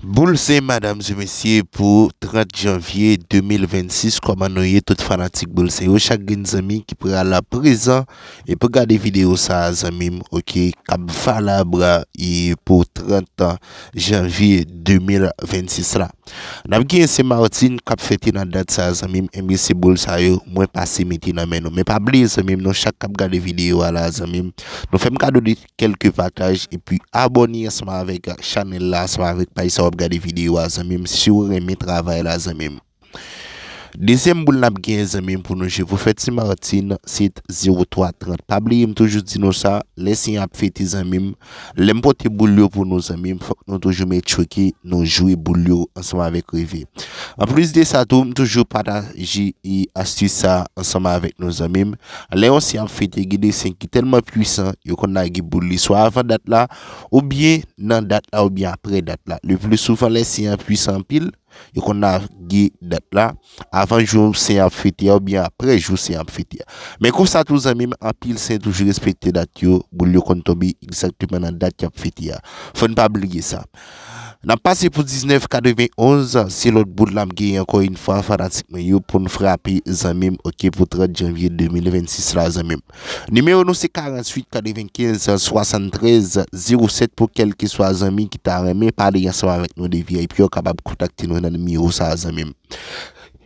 Boul se madam se mesye pou 30 janvye 2026 koman nou ye tout fanatik boul se yo chak grenn zanmi ki pral la prezan e pou gade video sa zanmim ok kap valabra e pou 30 janvye 2026 la nap gen se martin kap fete nan dat sa zanmim enbyen se boul sa yo mwen pase mete nan men nou men pa bliye zanmim nou chak kap gade video a la zanmim nou fem kado de kèlke pataj epi abòne ansanm avèk chanèl la ansanm avèk paj sa wap gade videyo a zanmim siw renmen travay la zanmim dezyèm boul nap gen zanmim pou nou jwe pou fèt Ti Martin se 03 30 pa bliye m toujou di nou sa lè siy an ap fete zanmim lèm pote boul yo pou nou zanmim fòk nou toujou met tchweke nou jwe boul yo ansanm avèk reve anplis de sa tou m toujou pataje e astis sa ansanm avèk nou zanmim. Lè yon siy ap fete gen de siy ki tèlman pwisan yo konn lage boul li swa avan dat la oubyen nan dat la oubyen apre dat la. Le pli souvan lè siy an pwisan anpil yo konn lage dat la avan jou siy an ap fete a oubyen apre jou siy an ap fete a. Men konsa tou zanmi m anpil siy toujou respekte dat yo, boul yo konn tonbe egzakteman nan dat y ap fete a. Fò n pa bliye sa. Nap pase pou 19 91 se lòt bout lap gen ankò yn fwa fanatik mwen yo poun frape zanmim ok pou 30 janvye 2026 la zanmim Nimewo nou se 48 95 73 07 pou kèlkeswa zanmi ki ta renmen pale ansanm avèk nou de vip yo kapab kontakte nou nan nimewo sa zanmim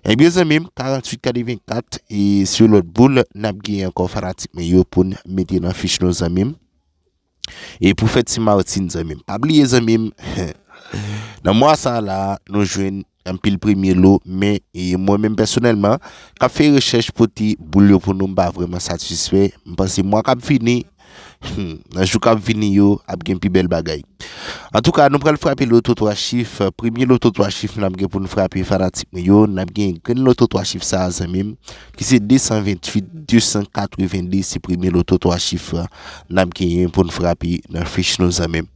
Ebyen zanmim 48 84 e se lòt boul nap gen ankò fanatik mwen yo poun mete nan fich nou zanmim. E pou fèt Ti Martine zanmim. Pa bliye zanmim nan mwa sa la nou jwenn anpil premye lo men e mwen menm pèsonèlman kap fè rechèch pote boul yo pou nou m pa vreman satisfè. M panse mwa kap vini nan jou kap vini yo ap gen pi bèl bagay. Antouka nou pral frape loto 3 chif. Premye loto 3 chif nap gen pou nou frape fanatik mwen yo nap gen grenn loto 3 chif sa zanmim ki se 228 282 se premye loto 3 chif la nap genyen pou n frape nan fich nou zanmi m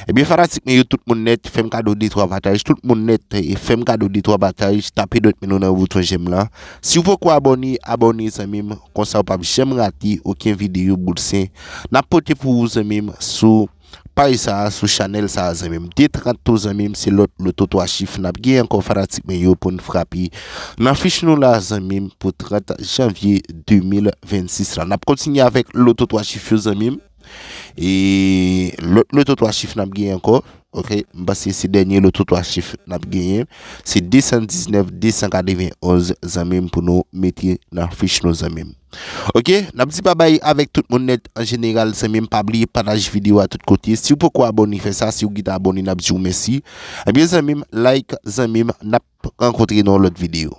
ebyen eh fanatik mwen yo tout moun net fèm kado de 3 pataj tout moun net eh, fèm kado de 3 pataj tape dwèt men nou nan bouton jèm la si w poko abone abone zanmi m konsa w pap janm rate oken videyo boul sen nap pote pou ou zanmi m sou Paj sa sou chanèl sa zanmim. De 30 tou zanmim se lòt loto 3 chif nap gen ankò fanatik mwen yo poun frape nan fich nou la zanmim pou 30 janvye 2026 la nap kontinye avèk loto 3 chif yo zanmim e lòt loto 3 chif nap gen ankò ok m panse se dènye loto 3 chif nap genyen se 219 291 zanmim pou nou mete nan fich nou zanmim. Ok nap di babay avèk tout moun nèt an jeneral zanmim pa bliye pataj video a tout kote siw poko abone fè sa siw gin t abone nap diw mèsi ebyen zanmim like zanmim nap rankontre nan yon lòt video.